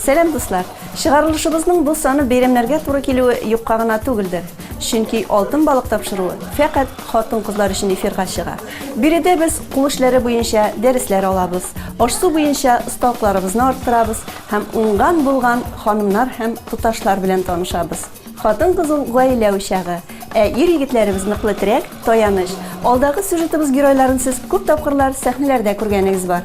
Сәлам дуслар! Чыгарылышыбызның бу саны бәйрәмнәргә туры килүе юкка гына түгелдер. Чөнки Алтын балык тапшыруы фәкать хатын-кызлар өчен эфирга чыга. Биредә без кул эшләре буенча дәресләр алабыз, аш-су буенча осталыкларыбызны арттырабыз һәм уңган-булган ханымнар һәм туташлар белән танышабыз. Хатын-кыз ул гаилә учагы, ә ир-егетләребез ныклы терәк, таяныч. Алдагы сюжетыбыз геройларын сез күп тапкырлар сәхнәләрдә күргәнегез бар.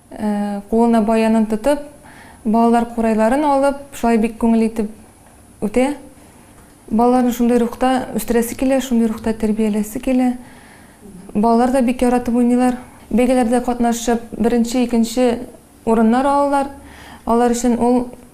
Кулына баянын тотып, балалар курайларын алып, шулай бик күңелле итеп үтә. Балаларны шундый рухта үстерәсе килә, шундый рухта тәрбияләсе килә. Балалар да бик яратып уйныйлар. Бәйгеләрдә катнашып, беренче, икенче урыннар алалар. Алар өчен ул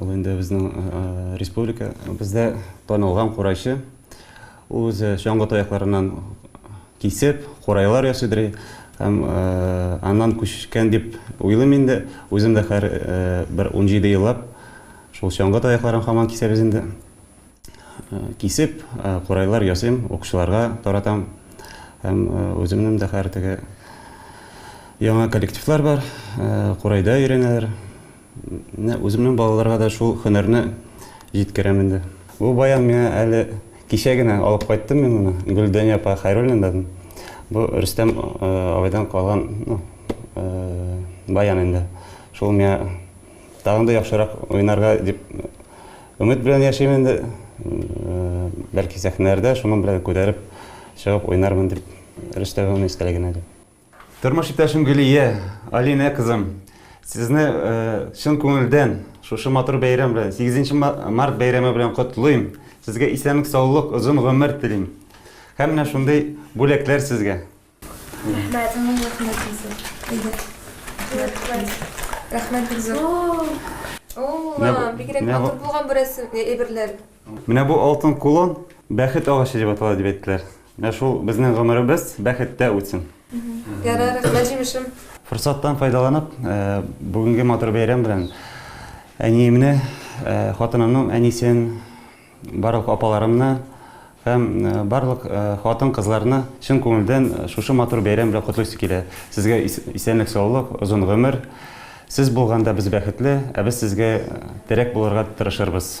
Ул инде безнең республика, бездә танылган курайчы. Ул үзе чаңгы таякларыннан кисеп, курайлар ясыйдыр. Һәм аннан күчкән дип уйлыйм инде. Үзем дә хәр бер 17 еллап шул чаңгы таякларын хаман кисәбез инде. Кисеп, курайлар ясыйм, укучыларга таратам. Һәм үземнең дә хәр теге яңа коллективлар бар, курайда өйрәнәләр. Менә үземнең балаларга да шул һөнәрне җиткерәм инде. Бу баян миңа әле кичә генә алып кайттым мин моны, Гөлдания апа Хәйруллинадан. Бу Рөстәм абыйдан калган баян инде. Шул миңа тагын да яхшырак уйнарга дип өмет белән яшим инде. Бәлки сәхнәләрдә шуның белән күтәреп чыгып уйнармын дип, Рөстәм абыйның истәлегенә дип. Тормыш иптәшем Гөлия, Алинә кызым, сезне чын күңелдән шушы матур бәйрәм белән, 8 март бәйрәме белән котлыйм. Сезгә исәнлек, саулык, озын гомер телим. Һәм менә шундый бүләкләр сезгә. Рәхмәт. Рәхмәт бик зур. О, бигрәк матур булган бу рәсем, әйберләр. Менә бу алтын кулон бәхет агачы дип атала дип әйттеләр. Менә шул безнең гомеребез бәхеттә үтсен. Ярар, рәхмәт җимешем. Форсаттан файдаланып, э, бүгенге матур бәйрәм белән әниемне, э, хатынымның әнисен, барлык апаларымны һәм э, барлык хатын кызларны чын күңелдән шушы матур бәйрәм белән котлыйсы килә. Сезгә исәнлек саулык, озын гомер. Сез булганда без бәхетле, ә без сезгә терәк булырга тырышырбыз.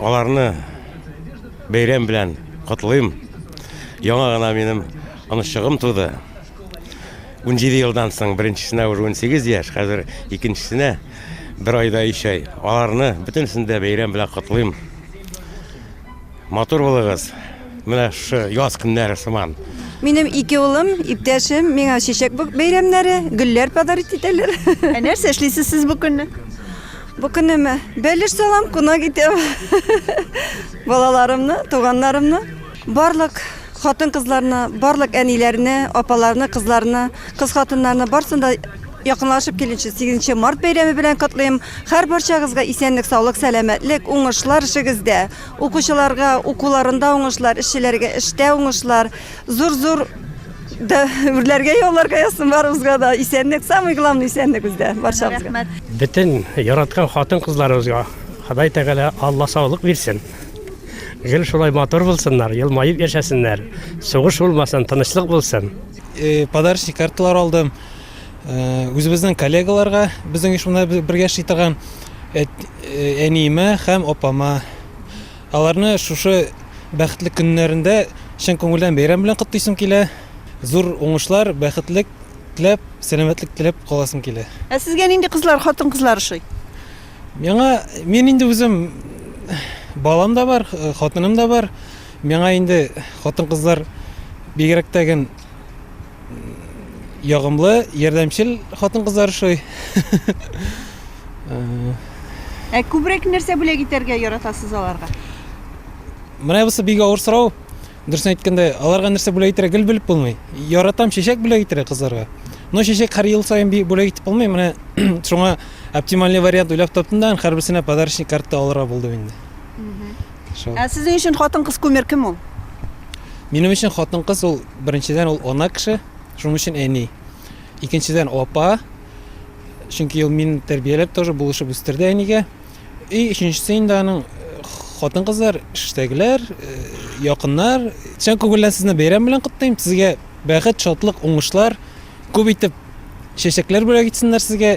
Аларны бәйрәм белән котлыйм. Яңа гына минем онышчыгым туды. 17 елдан соң беренчесенә уже 18 яшь, хәзер икенчесенә бер айда өч ай. Аларны бөтенесен дә бәйрәм белән котлыйм. Матур булыгыз. Менә шушы яз көннәре сыман. Минем ике улым, иптәшем миңа чәчәк бәйрәмнәре, гөлләр подарить итәләр. Ә нәрсә эшлисез сез бу көнне? Бу көнемә бәлеш салам, кунак итәм. Балаларымны, туганнарымны, барлык хатын-кызларны, барлык әниләрне, апаларны, кызларны, кыз хатыннарны барсын да якынлашып килүче 8 март бәйрәме белән котлыйм. Һәр барчагызга исәнлек, саулык, сәламәтлек, уңышлар эшегездә. Укучыларга укуларында уңышлар, эшчеләргә эштә уңышлар, зур-зур Да, үрләргә, яуларга язсын барыбызга да. Исәнлек, самый главный исәнлек бездә, барчабызга. Рәхмәт. Бөтен яраткан хатын-кызларыбызга Ходай Тәгалә Алла саулык бирсен. Гел шулай матур булсыннар, елмаеп яшәсеннәр. Сугыш булмасын, тынычлык булсын. Э, подарочный карталар алдым. Э, үзебезнең коллегаларга, безнең оешмада бергә эшли торган э, әниемә һәм апама Аларны шушы бәхетле көннәрендә чын күңелдән бәйрәм белән котлыйсым килә. Зур уңышлар, бәхетлек теләп, сәламәтлек теләп каласым килә. Ә сезгә нинди кызлар, хатын-кызлар ошый? Миңа, мин инде үзем, балам да бар, хатыным да бар. Миңа инде хатын-кызлар бигрәк тә гел. ягымлы, ярдәмчел хатын-кызлар ошый. Ә күбрәк нәрсә бүләк итәргә яратасыз аларга? Менә бусы бик авыр сорау. Дөресен әйткәндә, аларга нәрсә бүләк итәргә гел белеп булмый. Яратам чәчәк бүләк итәргә кызларга. Но чәчәк һәр ел саен би- бүләк итеп булмый. Менә шуңа оптимальный вариант уйлап таптым да, һәрберсенә подарочный картта алырга булдым инде. Шул. Ә сезнең өчен хатын-кыз кумир кем ул? Минем өчен хатын-кыз ул беренчедән ул ана кеше, шуның өчен әни. Икенчедән апа. Чөнки ул мин тәрбияләп тоже булышып үстерде әнигә. И өченчесе инде аның хатын-кызлар, эштәгеләр, якыннар. Чын күңелдән сезне бәйрәм белән котлыйм. Сезгә бәхет, шатлык, уңышлар, күп итеп чәчәкләр бүләк итсеннәр сезгә.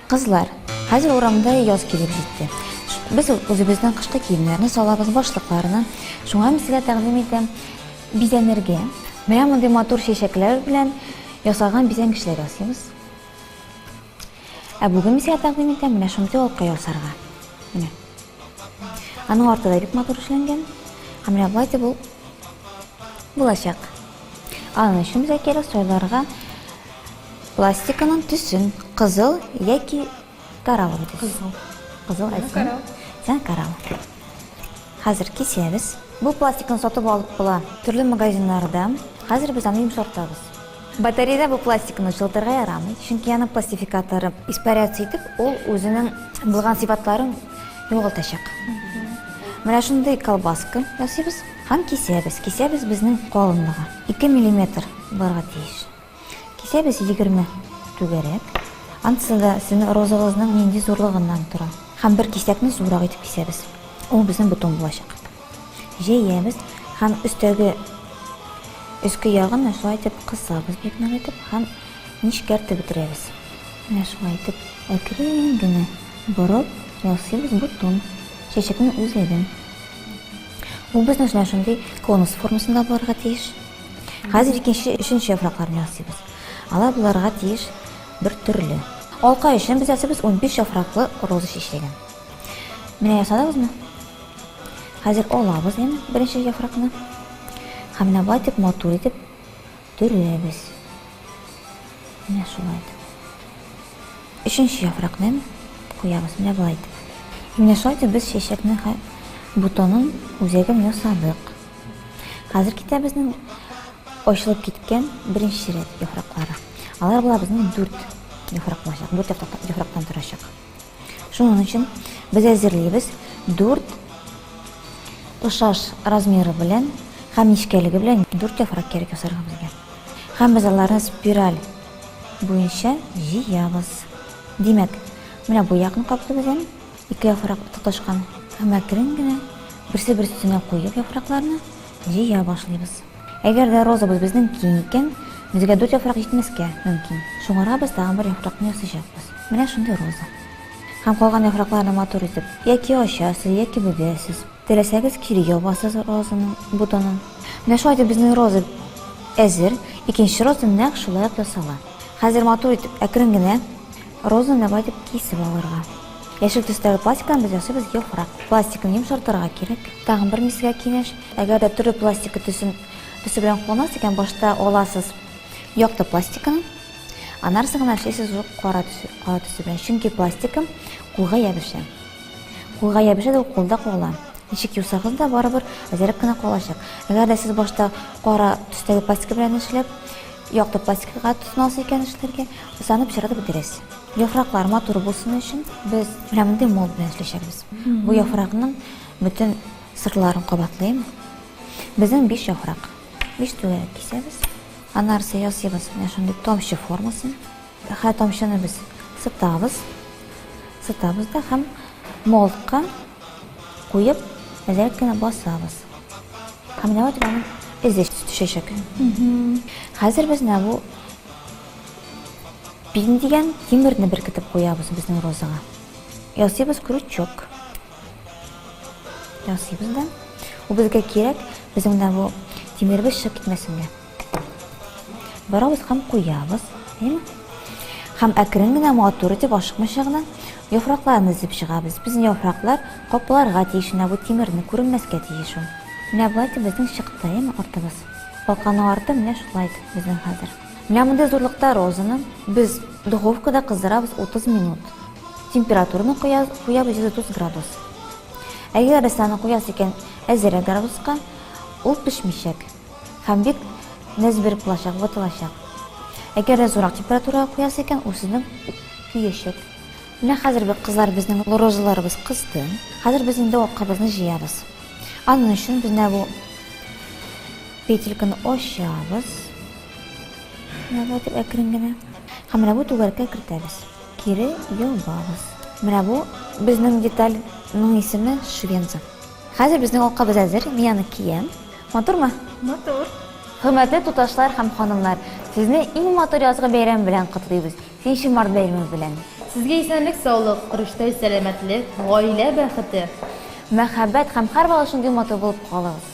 Кызлар, хәзер урамда яз килеп җитте. Без үзебезнең кышкы киемнәрне салабыз, башлыкларны. Шуңа мин сезгә тәкъдим итәм бизәнергә. Менә мондый матур чәчәкләр белән ясаган бизәнгечләр ясыйбыз. Ә бүген мин сезгә тәкъдим итәм менә шундый алка ясарга. Менә. Аның арты да бик матур эшләнгән. Һәм менә болай дип ул булачак. Аның өчен безгә кирәк сойларга Пластиканың төсен, кызыл яки кораллы төс. Кызыл. Кызыл әйтсәң. Корал. Сән корал. Хәзер кисәбез. Бу пластикны сатып алып була төрле магазиннарда. Хәзер без аны йомшартабыз. Батареядә бу пластикны чылтырга ярамый, чөнки аның пластификаторы испаряться итеп, ул үзенең булган сыйфатларын югалтачак. Менә шундый колбаска ясыйбыз һәм кисәбез. Кисәбез безнең калынлыгы. Ике миллиметр булырга тиеш. Кисәбез егерме түгәрәк. Анысы да сезнең розагызның нинди зурлыгыннан тора. Һәм бер кисәкне зуррак итеп кисәбез. Ул безнең бутон булачак. Җәябез һәм өстәге өске ягын шулай итеп кысабыз бик нык итеп һәм нечкәртеп бетерәбез. Менә шулай итеп әкрен генә борып ясыйбыз бутон, чәчәкнең үзәген. Ул безнең өчен шундый конус формасында булырга тиеш. Хәзер икенче, өченче яфракларны ясыйбыз. Алар буларга тиеш бер төрле. Алка өчен без ясыйбыз 15 яфраклы роза чәчәген. Менә ясадыгызмы? Хәзер алабыз инде беренче яфракны. Һәм менә болай итеп матур итеп төрәбез. Менә шулай итеп. Өченче яфракны куябыз менә болай итеп. Менә шулай итеп без чәчәкне бутонын, үзәген ясадык. Хәзер китә безнең очылып киткән беренче рәт яфраклары. Алар була безнең дүрт яфрак булачак, дүрт яфрактан торачак. Шуның өчен без әзерлибез дүрт тошаш размеры белән һәм нечкәлеге белән дүрт яфрак кирәк ясарга безгә. Һәм без аларны спираль буенча җыябыз. Димәк, менә бу якны каплыйбыз, Ике яфрак тоташкан һәм әкрен генә берсе-берсенә куеп яфракларны җыя башлыйбыз. Әгәр дә розабыз безнең киң икән, безгә дүрт яфрак җитмәскә мөмкин. Шуңарабыз тагын бер яфракны ясыйчакбыз. Менә шундый роза. Һәм калган яфракларны матур итеп яки ачасыз, яки бөгәсез. Теләсәгез кире ябасыз розаның ботонын. Менә шулай итеп безнең роза әзер. Икенче роза нәкъ шулай ук ясала. Хәзер матур итеп әкрен генә Розаны нәбай итеп кисеп алырга. Яшел төстәге пластиктан без ясыйбыз яфрак. Пластикны йомшартырга кирәк. Тагын бер мискә киңәш, әгәр дә төрле пластика төсен, төсе белән кулланасыз икән, башта аласыз якты пластиканы, анарсы гына эшлисез уже кара төсе, кара төсе белән. Чөнки пластика кулга ябешә. Кулга ябешә дә ул кулда кала. Ничек юсагыз да барыбер әзерәк кенә калачак. Әгәр дә сез башта кара төстәге пластика белән эшләп, Якты пластикага тотынасы икән эшләргә, узанып чыгарды бу дөрес. Яфраклар матур булсын өчен без менә мондый мол белән эшләячәкбез. Бу яфракның бөтен сырларын кабатлыйм. Безнең биш яфрак. Биш түгәрәк кисәбез. Аннары ясыйбыз менә шундый тамчы формасын. Хә тамчыны без сытабыз. Сытабыз да һәм молтка куеп, әзрәк кенә басабыз. Һәм менә вот аның эзе төшәчәк. Хәзер без менә бу пин дигән тимерне беркетеп куябыз безнең розага. Ясыйбыз крючок. Ясыйбыз да. Ул безгә кирәк, безнең менә бу тимеребез чыгып китмәсен дә. Барабыз һәм куябыз. Әйеме? Һәм әкрен генә матур итеп ашыкмыйча гына яфракларны өзеп чыгабыз. Безнең яфраклар капларга тиеш, менә бу тимерне күренмәскә тиеш ул. Менә болай итеп безнең чыкты, әйеме, артыбыз. Калканың арты менә шулай итеп безнең хәзер. Менә мондый зурлыкта розаны без духовкада кыздырабыз 30 минут. Температураны куябыз 130 градус. Әгәр саны куясы икән әзерәк градуска, ул пешмичәк. Һәм бик нәз биреп булачак, ватылачак. Әгәр дә зурак температурага куясы икән, үзенең көячәк. Менә хәзер бик кызлар безнең розаларыбыз кызды. Хәзер без инде акабызны җыябыз. Аның өчен без менә бу петельканы ачабыз. Менә бу дип әкрен генә. Һәм менә бу түгәрәккә кертәбез. Кире ябабыз. Менә бу безнең детальның исеме швенза. Хәзер безнең алкабыз әзер, мин аны киям. Матурмы? Матур. Хөрмәтле туташлар һәм ханымнар, сезне иң матур язгы бәйрәм белән котлыйбыз, нче март бәйрәме белән! Сезгә исәнлек саулык, көрәштә сәламәтлек, гаилә бәхете. Мәхәббәт һәм һәрвакыт шундый матур булып калыгыз.